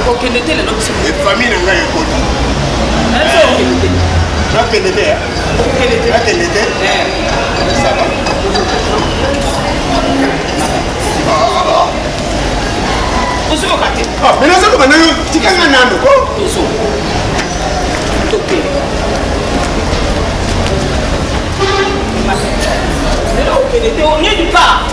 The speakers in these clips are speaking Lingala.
okokende te lelo biso efami na ngai ekoti nakende te nakende te saba ozokoka te mais nazokoka nayo tikanga nano ko tozo toke lelo okende te onyedi pa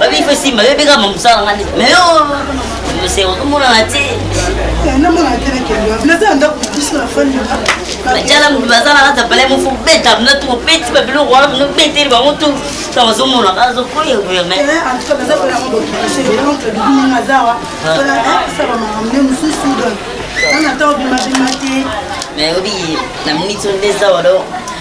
babife simba bebeka mamosala nga nde mais yo omonana te bajala moto baza na kati ya palai mofo beta mna tu obeti babiloko wana mno beteli bango tu ta bazomona azokoya gouvernement mais obi na minute nde zawa donc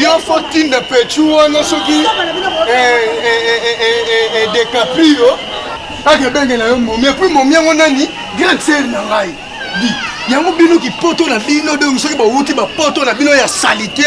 yo fo tinda pechu wana soki decaprio ake ebenge na yo momi epui momi yango nani grande sere na ngai di yango bino kipoto na bino donc soki bawuti bapoto na bino ya salite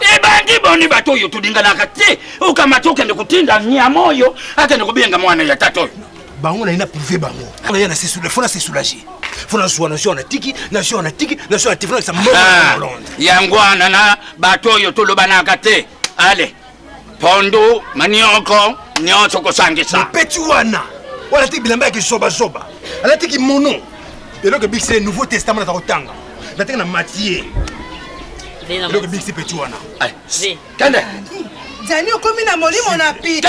ebandi boni bato oyo tolinganaka te okamata okende kotinda nyama oyo akende kobenga mwana ya tata oyo bango naye na prive bango aya fo na se soulage fo nazwa nazwa na tiki nazwa na tiki nazwa na tiki fo nakisa mbongo ah, yango wana na bato oyo tolobanaka te ale pondu manioko nyonso kosangisa mopeti wana oyo alati bilamba ya kizobazoba alati kimono eloko ebikisi ye nouveau testament naza kotanga natenge na matie eloko ebikisi peti wana kende zani okomi na molimo na pite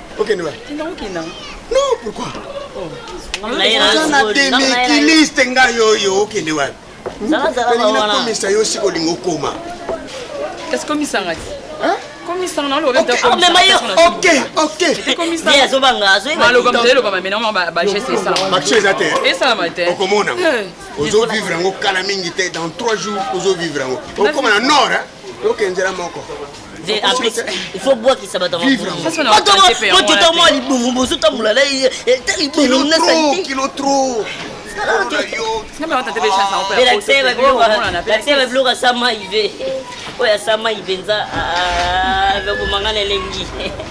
okende wapi tinda kokenda non pourquoi natemekiliste ngai oyo okende wapi nakomisa yo sika olingi okoma kasi komisanga ti komisanga na oloba bageste esalamabaction eza te esalama te okomona ozovivre yango kala mingi te dans 3 jours ozovivre yango okoma na nord okenzela moko ifobwakisa bato mwa libongo bozotambola na libongo na salite babiloko ya sama ive oyo ya sama ive nza bobomangana elengi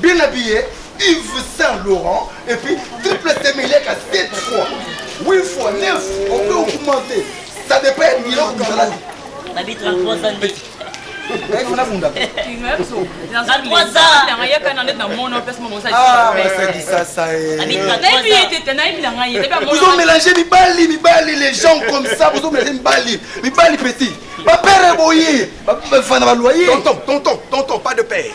Bien habillé, Yves Saint Laurent et puis triple semileka 7 fois 8 fois 9 on peut augmenter ça dépend ya biloko bizalaki nabi 33 ans nde Eh, kuna bunda bozo mélange mibali mibali les gens comme ça bozo mélange mibali mibali petit bapere boye bafana baloye tonton tonton tonton pas de père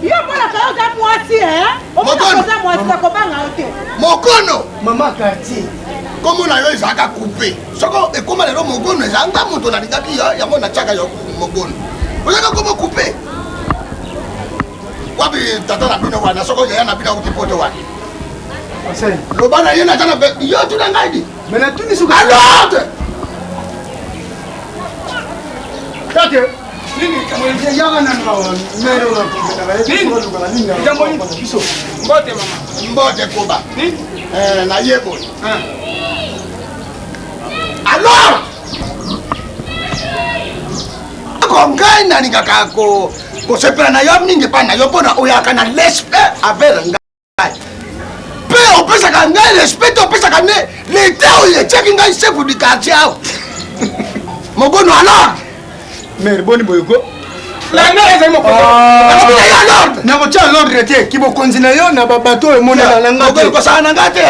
Yo mwana kayo oza mwasi eh? Omona oza mwasi na kobanga yo te. Mokono. Mama quartier. Komo na yo ezalaka coupe. Soko ekoma lelo mokono eza nga moto nalingaki yo yango natiaka yo mokono. Ozaka komo coupe. Wapi tata na bino wana soko yaya na bino akuti poto wana. Loba na ye na tana yo tuna ngai di. Mais na tuni suka. Alors. Tata mbote mama mbote koba eh, nayeboli ah. alors ko ngai nalingaka kosepela na yo mingi epai na yo mpo na oyaka na lespe avere ngai mpe opesaka ngai respect te opesaka nde leta oyo etiaki ngai chef du quartier awa mogono alors mere boni boyoko nakotya lordre te kibokonzi na yo na babato oyo emonela na ngakosala na ngai te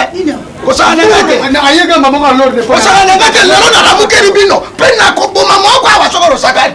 kosala na ngai te ayekamba moko lordre kosala na ngai te lelo nalamukeli bino mpe nakoboma moko awa soko losakani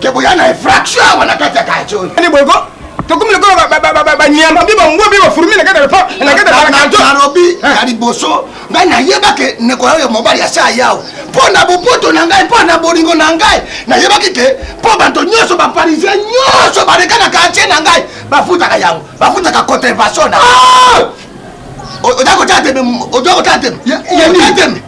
ke boya na infraction awa na kati ya kajo ni bogo tokomi lokola banyama bi bangwe bi bafurumi na kati ya lopa na kati ya kajo narobi eh. ya liboso ngai nayebake ndeko yayo mobali ya saa yawo mpo na bopoto na ngai mpo na bolingo na ngai nayebaki te mpo bato nyonso baparisien nyonso baleka na kartier na ngai bafutaka yango bafutaka contrevention na ah! oza kotala teme oza kotala teme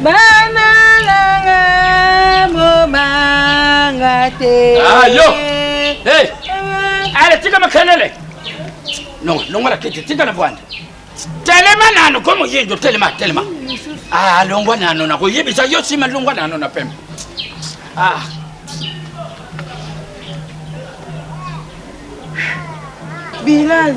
Bana nanga bobanga te. Ah yo. Hey. Allez, tika makelele. Non, non wala kiti, tika na bwanda. Telema nano ko moyindo, telema, telema. Ah, longwa nano na koyebisa yo sima longwa nano na pembe. Ah. Bilal.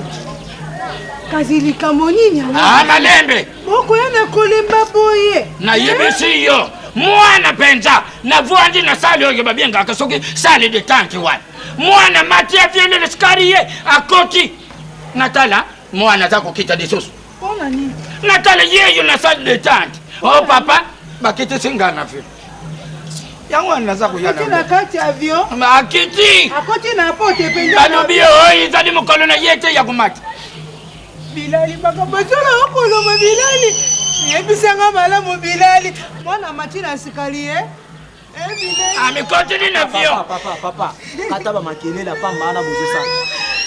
Kasi likambo nini yango? Ah, malembe. Okoya na kolemba boye. Nayebisi yo mwana mpenza navwandi na sale oyo babengaka soki sale de tante wana mwana mati aviende na sikari ye akoti natala mwana aza kokita lisusu natala yeyo na sale de tante o oh, papa bakitisi ngai na vile yango wana naza koyanaakiti balobi oyo ezali mokolo na ye te ya komata bilali makambo ezolo okoloba bilali yebisanga malamu bilali mwana mati na sikali ye amikotini eh, ah, na vio papa papa ata bamakelela pamba wana bozosala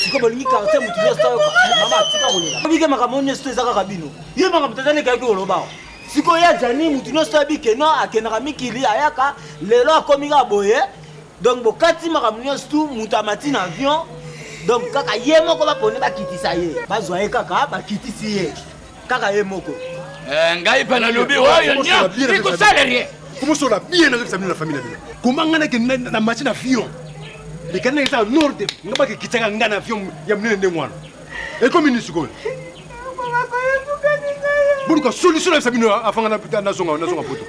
siko bolingi karte motu nyonso mama tika kolela obike makambo nyonso eza kaka bino ye makambo tozalekaki kolobawa sikoyo ya jani motu nyonso abike no akendaka mikili ayaka lelo akomi kaka boye donc bokati makambo nyonso tu moto amati na avion donc kaka ye moko bapone bakitisa ye bazwa ye kaka bakitisi ye kaka ye moko eh, ngai mpe nalobi oyo nyo ikosala ye komosola bien nazokisa bino na famille na bino koma ngai nake na mati na avion lekani nake eza norde nga bakekitaka ngai na avion ya monene ndenge wana ekomi nini sikoyo boluka solution nayebisa bino afanga nazonga poto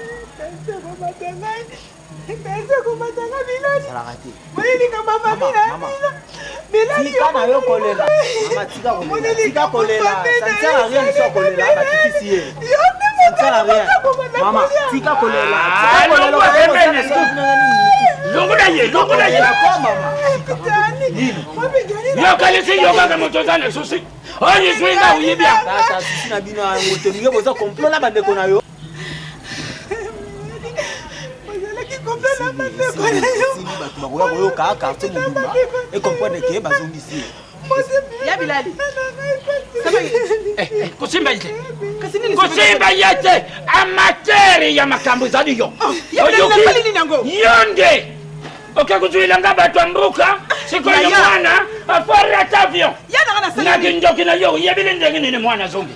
yokalisi yokaka moto oza na susi oyo ezwi nga oyibi ya bino yango te boza komplo na bandeko na yo bato bakoya koyoka quartier mobimba ekomprendre ke bazongisi ya bilali kosimba ye te kosimba ye te amatere ya makambo ezali yo yo nde oke kozuila nga bato ya mboka sikoyo mwana afarata avion na kindoki na yo oyebili ndenge nini mwana azongi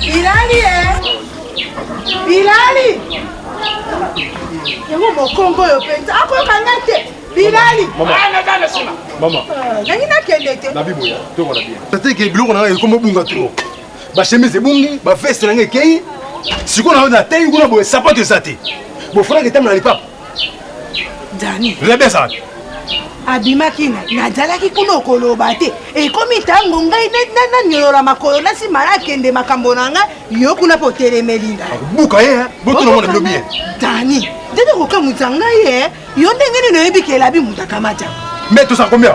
Bilali eh. Bilali. Yango mokongo oyo mpenza akoyoka ngai te. Bilali. Mama. Mama. Ah, Nangi nakende te. Na biboya. Toko na bien. Tata ke biloko na ngai ekomo bunga trop. Ba chemise ebungi, ba veste na ngai ekei. Sikoyo na yo na teyi kuna boye sapato eza te. Bofanaki ntango na lipapa. dani rebe ezala te abimaki na nazalaki kuna okoloba te ekomi ntango ngai nanyolola makolo na nsima nakende makambo na ngai yo kuna mpo otelemeli ngai buka ye botonomona bilobi ye dani ndenge kokamwisa ngai ye yo ndenge nini oyebi kelabi moto akamata mbe tozala kombia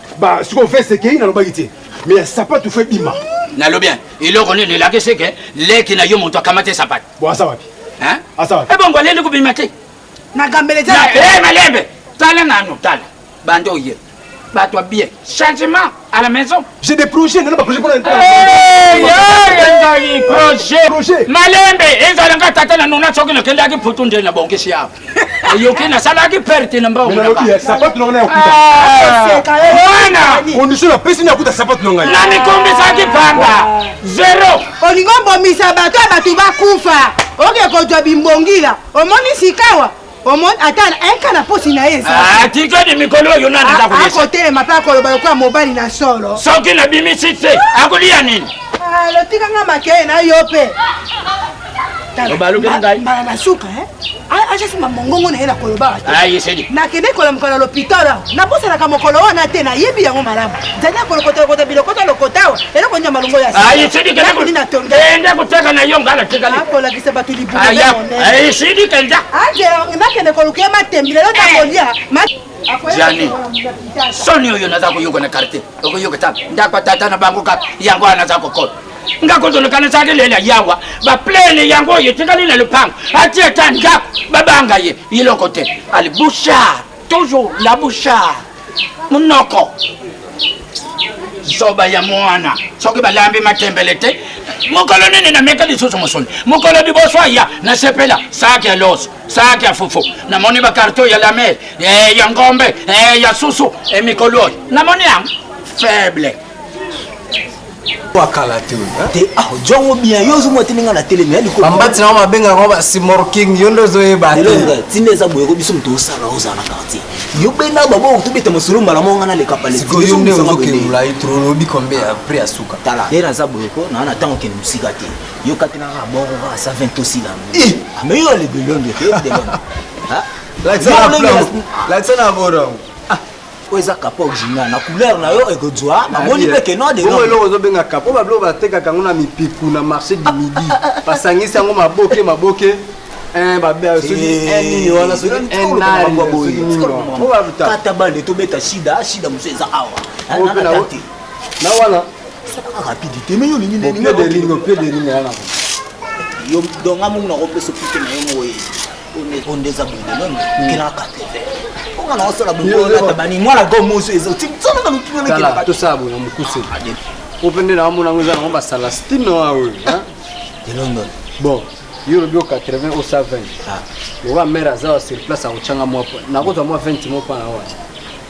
Ba siko veste kei na lobaki te. Mais ya sapatu fe bima. Na lobi hein. Eloko nini elaki se ke leki na yo moto akamate sapatu. Bon asa wapi? Hein? Asa wapi? Ebongo eh aleli kobima te. Na gambele te. Eh malembe. Tala nanu tala. Bando ye. Bato ya bien. Changement à la maison. J'ai des projets, nana ba projets pona. Eh, ya ya projet. Malembe ezala nga tata na nuna soki nakendaki putu nde na bongisi yao. oyoki nasalaki perte na mbango sapatu nanga nayakutakondisio napesi nayakuta sapatu na ngai namikombisaki pamba zero olingo mbomisa bato ya bato bakufa oke kozwa bimbongila omoni sikawa omoni ata eka na posi na ye ezatikadi ah, mikolo oyo nani akotelema mpe akoloba lokola mobali na solo soki nabimisi te akoliya nini ah, lotikanga makeye na yo mpe obalukeli ngai mbala na suka ajasimba mongongo na ye na kolobaka te nakende kolamuka na lopitalo nabosanaka mokolo wana te nayebi yango malamu zali akolokotalokota bilokota lokota awa eloko nini ya malongo yaakoni natongiende koteka na yo ngai natikakolakisa bato libunanakende koluka ye matembi lelo takolia jani soni oyo naza koyoka na karte okoyoka ta ndako tata na bango kaka yango wana naza kokola nga kozolekana ezalaki lela yawa baplene yango oyo etikali na lopango ati ata ndako babanga ye eloko te ali bouchard toujours la bouchard monoko zoba ya mwana soki balambi matembele te mokolo nini nameka lisusu mosuni mokolo liboso aya nasepela saki ya loso saki ya fufu namoni bakarto ya lamere eh, ya ngombe eh, ya susu emikolo eh, oyo namoni yango faible akala te te ah, jongo bien yo ozomwa te ndenge na telemi ya likolo bambati nao babengaka ngo basimorking yo nde ozoyeba te ntina eza boye ko biso moto osala ozala na quartier yo benda babo tobeta masolo mbala moko ngana leka palesikoyo nde ozokengula ye tro olobi kombe ya prix ya suka tala ye naza boye ko naa na ntango okende mosika te yo katelaka boko kaka sa 20 tosila ame yo alebelonde te lakisa na borongo oyo eza kapo original na couleur na yo ekozwa namoni mpe kenoa deoyo eloko ozobenga kapo babiloko batekaka yango na mipiku na marché du midi basangisi yango maboke maboke eh, kata bande tobeta shida shida mosu eza awa na wana rapidité me yo olingi ndeninga yo donga mongo nakopesa pite na yo moye oyo nde eza bondelone kena 80 onga na osala bongoatabani mwana gomoso eza otisananga lokiaa tosala boye na mokuse po mpe nde naamona yango eza nango basala stine wa oyo de london bon yo olobi o 80 o 120 lokola mare aza wa sur place akotyanga mwa nakozwa mwa 20 mo mpo na wana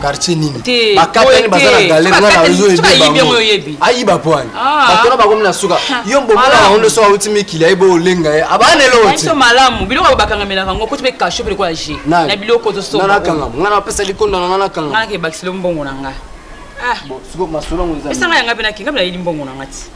quartier nini bakatani baza na galere nga nazo ebebango ayiba po ani ah. bato na bakomi na suka yo mbomona yango nde soki auti mikili ayebi olenga ye abanelootiso malamu biloko yango bakangamelaka yango koti mpe kasho mpe lokola je na biloko tosoanakanga nga napesa likonda na nga nakanga nga nakebakisilo mbongo na nga ah. esanga yanga mpe nakenga mpe nayeli mbongo na nga ti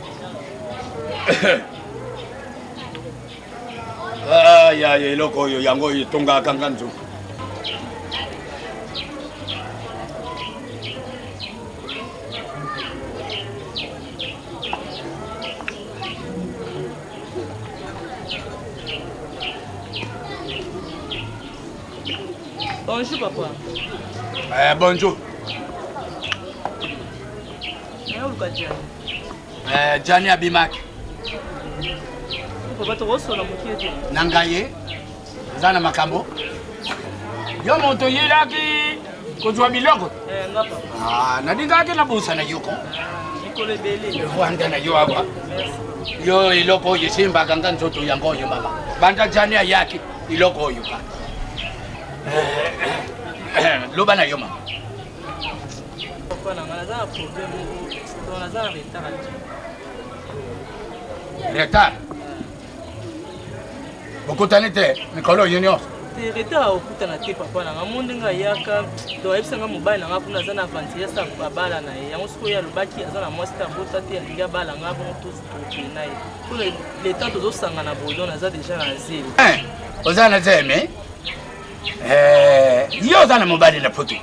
ah, ya eloko oyo yango oyo etongaka nga nzoto Bonjour, papa. Eh, bonjour. Eh, Gianni abimaki. Papa tokosola mokie te. Na ngaye eza na makambo. Yo moto oyelaki kozwa biloko. Eh, nga papa. Ah, nalingaki na busa na yoko. Mikolo ebele. Rwanda na yo awa. Yo eloko oyo esimbaka nga nzoto yango oyo mama. Banda Gianni ayaki iloko oyo kaka. Eh, eh, eh, loba na yo mama. Papa na nga naza na problème moko donc naza na retard ati. retard bokutani te mikolo oyo nyonso Te retard okutana te papa na nga mo ndenge ayaka donc ayebisa nga mobali na nga kuna aza na aventurier asa babala na ye yango sikoyo ye alobaki aza na mwasi te abota te alingi abala nga bongo tozokende na ye mpo leta tozosangana boye donc naza deja na zelo Eh, oza na zemi Eh, yo oza na mobali na poto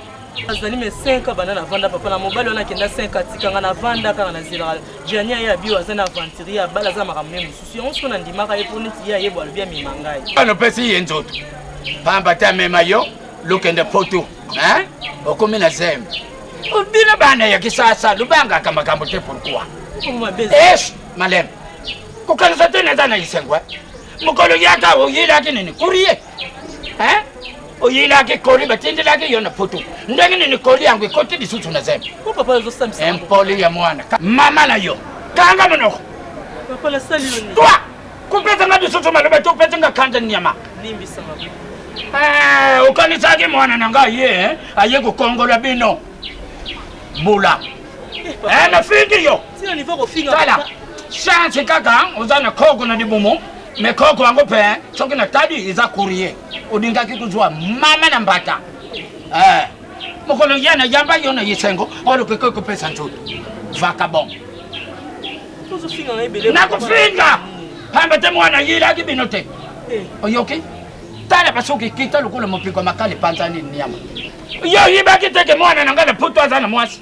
azali me 5 ans banda navanda papa na mobali wana akenda 5 atikanga navanda kaka nazelaka jani aye abio aza na aventurier ya bala aza makambo me mosusu yango soki nandimaka ye mpo neti ye ayebo alobi amema ngai wana opesi ye nzoto pamba te amema yo lokende poto okomi na zeme bino bana ya kisasa lobangaka makambo te pourkui es maleme kokanisa te naza na esengo eh? mokolo yaka oyelaki nini kurie oyelaki koli batindelaki yo na poto ndenge nini koli yango ekoti lisusu na zemi impoli ya mwana mama na yo kanga monoko toi kopesa nga lisusu maloba te opesi nga kanda nyama eh, okanisaki mwana na ngai ye eh, aye kokongola bino bula eh, nafingi yo tala chance kaka oza na koko na libumu Mais koko yango pe hein, soki na tali eza courrier. Olingaki kuzwa mama na mbata. Eh. Mokolo yana yamba yo na yesengo, olo pe koko pesa nzoto. Vacabon. Tozo finga na ebele. Na kufinga. Pamba te mwana yila ki bino te. Eh. Oyoki? Tala basoki kita lokola mopiko makali panzani nyama. Yo yibaki te ke mwana na ngana puto azana mwasi.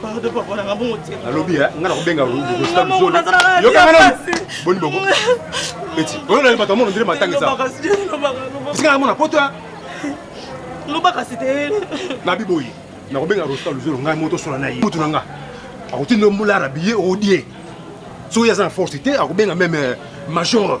pardon papa nanga bongo te nalobi eh, nga nakobenga boni boko eti oyo nali bato amono ndele matanga esaesika namona poto ya loba kasi te nabi boye nakobenga rosta luzolo ngai moto sola na ye mutu na nga akotinda mbula arabiye odie soki aza na force te akobenga meme eh, major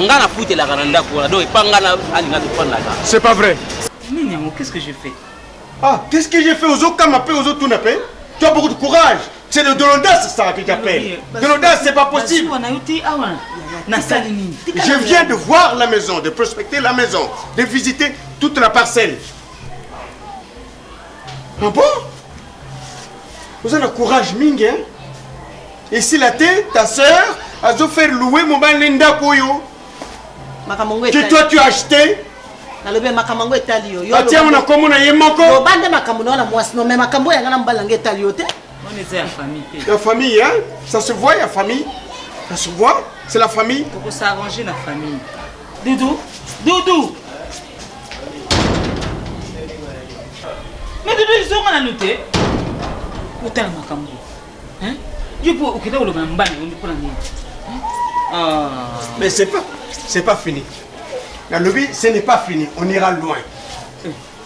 nga na futelaka na ndako wana donc epa nga na alinga tofandaka c'est pas vrai nini yango qu'est ce que je fais ah qu'est ce que je fais ozokama mpe ozotuna mpe tu as beaucoup de courage c'est de, de l'audace ça que j'appelle de l'audace c'est pas possible je viens de voir la maison de prospecter la maison de visiter toute la parcelle Ah bon Vous avez le courage mingi hein? Et si la tête, ta sœur, a dû faire louer mon bal Linda Koyo Que toi tu as acheté nalobi makambo yango etali yo atia ngo na nkombo na ye moko loba nde makambo na yo na mwasi no me makambo oyo yanga na mobali yango etali yo te ya famille hein? ça se voit ya famille ça se voit c'est la famille tokosarrange na famille Doudou, Doudou. Mais Doudou ezonga na note. Otala makambo. Hein? Yo po okenda koloba na mbana yo mpo na nini? Ah. Mais c'est pas c'est pas fini. Nalobi ce n'est pas fini, on ira loin.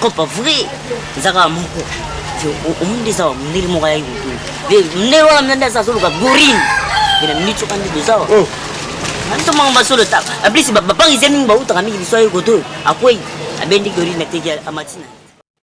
kopa vrai eza kaka moko omoni nde eza wa mondele moko ayaki kotu mondele wana mna nde aza azoluka gorine ena miniti oka nde toza wa oh. biso moko basolo ta ablisi bapangisi mingi bautaka mingi biso aye koto akwei abendi gorine ateki amatina